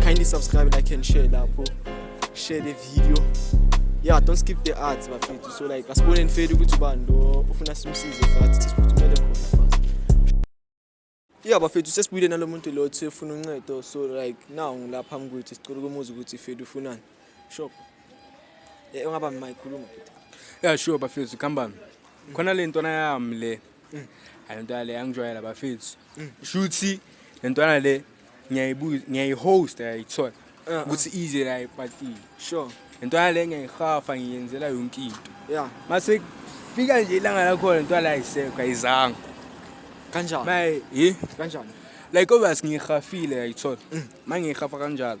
Kindly subscribe, like and share lapho. Share the video. Yeah, don't skip the ads bafethu. So like asibone nifeli ukuthi ubani lo ufuna simsize fast siphuthumele khona fast. Yeah bafethu sesibuyile nalomuntu lo othi ufuna uncedo so like now ngilapha mkwethu sicela ukumuza ukuthi fethu ufunani. Shop. Eh ungaba mayikhuluma futhi. Yeah sure bafethu khambami. Khona le ntwana yami le. Ayintwana le angijwayela bafethu. Shuthi le ntwana le ngiyayibuza ngiyayihost ayayithola uh-uh. ukuthi ize la epatini sure into yale ngiyayihafa ngiyenzela yonke into yeah mase fika nje ilanga lakhona into yala ayisekho ayizanga kanjani maye hi kanjani like obvious ngihafile ayithola mm. mangihafa kanjalo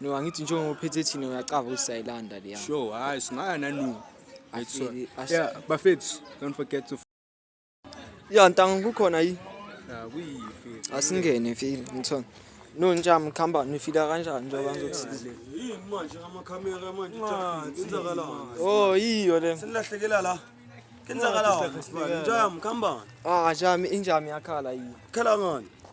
No angithi njengoba uphethe thina uyacava ukuthi sayilanda leya. Sure, hayi singaya nanu. Actually, as- Yeah, bafethu, don't forget to Ya ntanga kukhona yi. Ah, kuyifi. Asingene feel ngithona. No njam khamba nifila kanjani njengoba ngizokusiza. Yini manje amakhamera manje kwenzakalani? Oh yiyo le. Senilahlekela la. Kwenzakalani? Njam khambani. Ah jami injami yakhala yi. Khala ngani?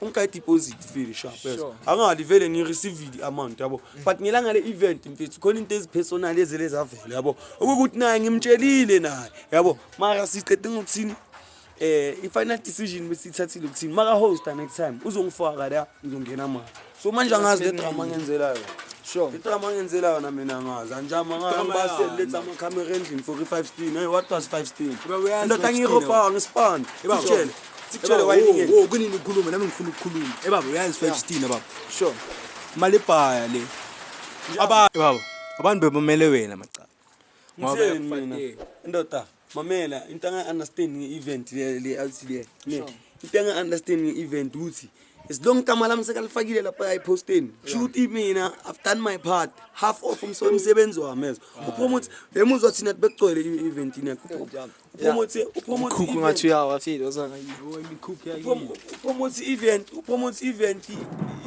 ungika deposit vele sharp yes sure. angali vele ngi receive the amount yabo mm. but ngelanga le event mfethu khona into ezipersonal ezele zavela yabo ukuthi naye ngimtshelile naye yabo mara siqede ngokuthini eh i final decision besithathile ukuthini maka host next time uzongifaka la ngizongena manje so manje angazi le drama ngenzelayo sure idrama ngenzela yona mina ngazi anjama ngangibase letha amakhamera endlini 45 steen hey what was 5 steen ndoda ngiyiropa ngispan sitshele sitshele wayini wo kunini ukhuluma nami ngifuna ukukhuluma hey baba uyazi 5 steen baba sure mali baya le aba baba abantu bebomele wena macala ngitheni mina indoda mamela into anga-understand nge-event leathi le into anga-understand nge-event ukuthi as long igama lami sekalifakile lapha eposteni kusho ukuthi mina i've done my part half off umsebenzi wami ezo uphuma ukuthi emuzwa thina bekugcwele i-event yakho upromote upromote ukhukhu ngathi uyawa file ozanga yiwo imikhukhu yakhe upromote event upromote event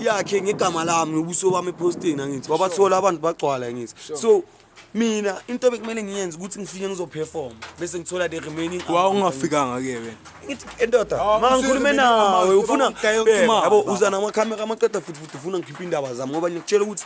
yakhe ngegama lami nobuso bami eposting angithi wabathola abantu bagcwala ngithi so mina into bekumele ngiyenze ukuthi ngifike ngizoperform bese ngithola the remaining wa ungafikanga ke wena ngithi endoda ah, ma ngikhulume nawe ufuna yabo uza namakhamera amaqeda futhi futhi ufuna ngikhiphe indaba zami ngoba ngikutshela ukuthi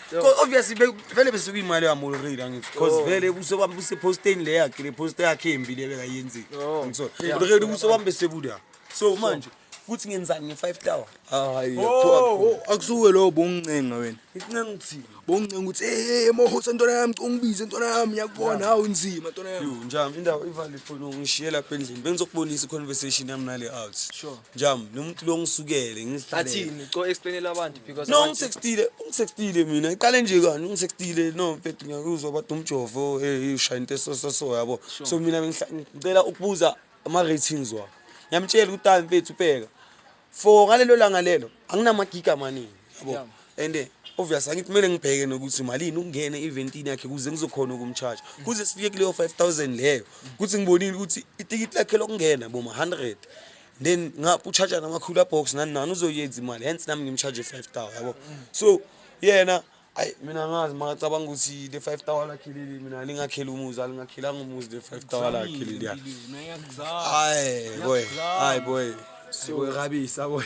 obviously vele besuke imali yamoloredi angithi because oh. vele ubuso bami buseposteni le yakhe le posta yakhe embi le bekayenzile oh. ngisona oloredi ubuso bami besebuda so manje kuthi ngenzani nge-five tower hayi oh, akusuke lowo bongincenga wena ngicinga ngithini bongincenga ukuthi ey mohosa ntwana yami ungibize ntwana yami ngiyakubona hawu nzima ntwana yami njami indawo ivale ifoni ungishiyela apha endlini bengizokubonisa i-conversation yami nale out sure Jam, lo muntu lo ngisukele ngizihlalele. Athini co explainela abantu because No ngisextile, ngisextile mina. Iqale nje kani ngisextile no mfethu ngiyakuzwa bathi umjovo eh ushaya into esoso so yabo. So mina bengihla- ngicela ukubuza ama ratings wa. Ngiyamtshela ukuthi hayi mfethu ubheka. For ngalelo langa lelo anginamagiga amaningi. yabo and eh, obvious angithi kumele ngibheke nokuthi malini ukungena eventini yakhe kuze ngizokhona ukumcharge kuze sifike kuleyo 5000 leyo kuthi ngibonile ukuthi itikiti lakhe lokungena boma 100 then ngapha ucharge nama cooler box nani nani uzoyenza imali hence nami ngimcharge 5000 yabo so yena ayi mina ngazi makacabanga ukuthi le 5 tower lakhe leli mina lingakhela umuzi alingakhelanga umuzi le 5 tower lakhe leli hayi boy hayi boy so rabisa boy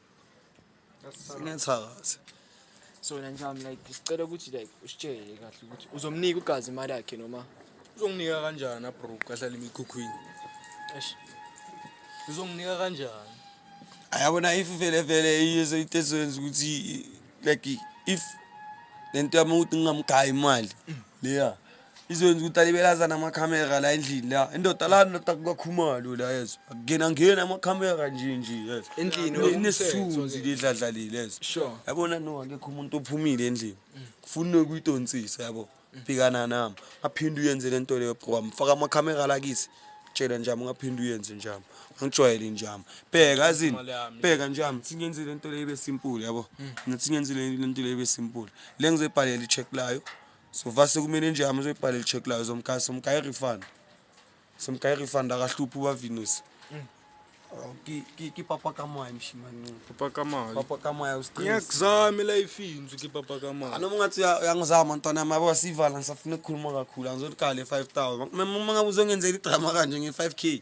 Sinethakathi. So wena njami like sicela ukuthi like usitshele kahle ukuthi uzomnika ugazi imali yakhe noma uzonginika kanjani abroke ahlala emikhukhwini. Eish. Uzonginika kanjani? Ayabona if vele vele iyeso itesenza ukuthi like if lento yami ukuthi ngingamgaya imali leya. izokwenza ukuthi alibelazana amakhamera la endlini la indoda la ndoda kukakhumalo la yezo akungena ngena amakhamera nje nje yezo Endlini Le- inesithunzi ledladlalile yezo Sure. yabona no akekho umuntu ophumile endlini kufuna ukuyidonsisa yabo bhekana nami aphinde uyenze le nto leyo bro mfaka amakhamera la kithi tshela njami ungaphinde uyenze njami angijwayele njami bheka azini bheka njami singenze le nto leyo ibe simple yabo nathi singenze le le nto leyo ibe simple le ngizebhalela i-check layo So far sekumele nje hamba uzoyibhala i-check layo zomkhaya somkhaya i-refund. Somkhaya i-refund akahluphi ubaVinus. Oh, ki ki ki papa ka moya mshimanqini. Papa ka mali. Papa ka moya usiqinisa. Ngiyakuzama elifini uthi papa ka mali. Anoma ngathi uyangizama ntwana yami yabo sivala ngisafuna ukukhuluma kakhulu angizolikhala e-5000. Uma ngabe uzongenzela idrama kanje nge-5k.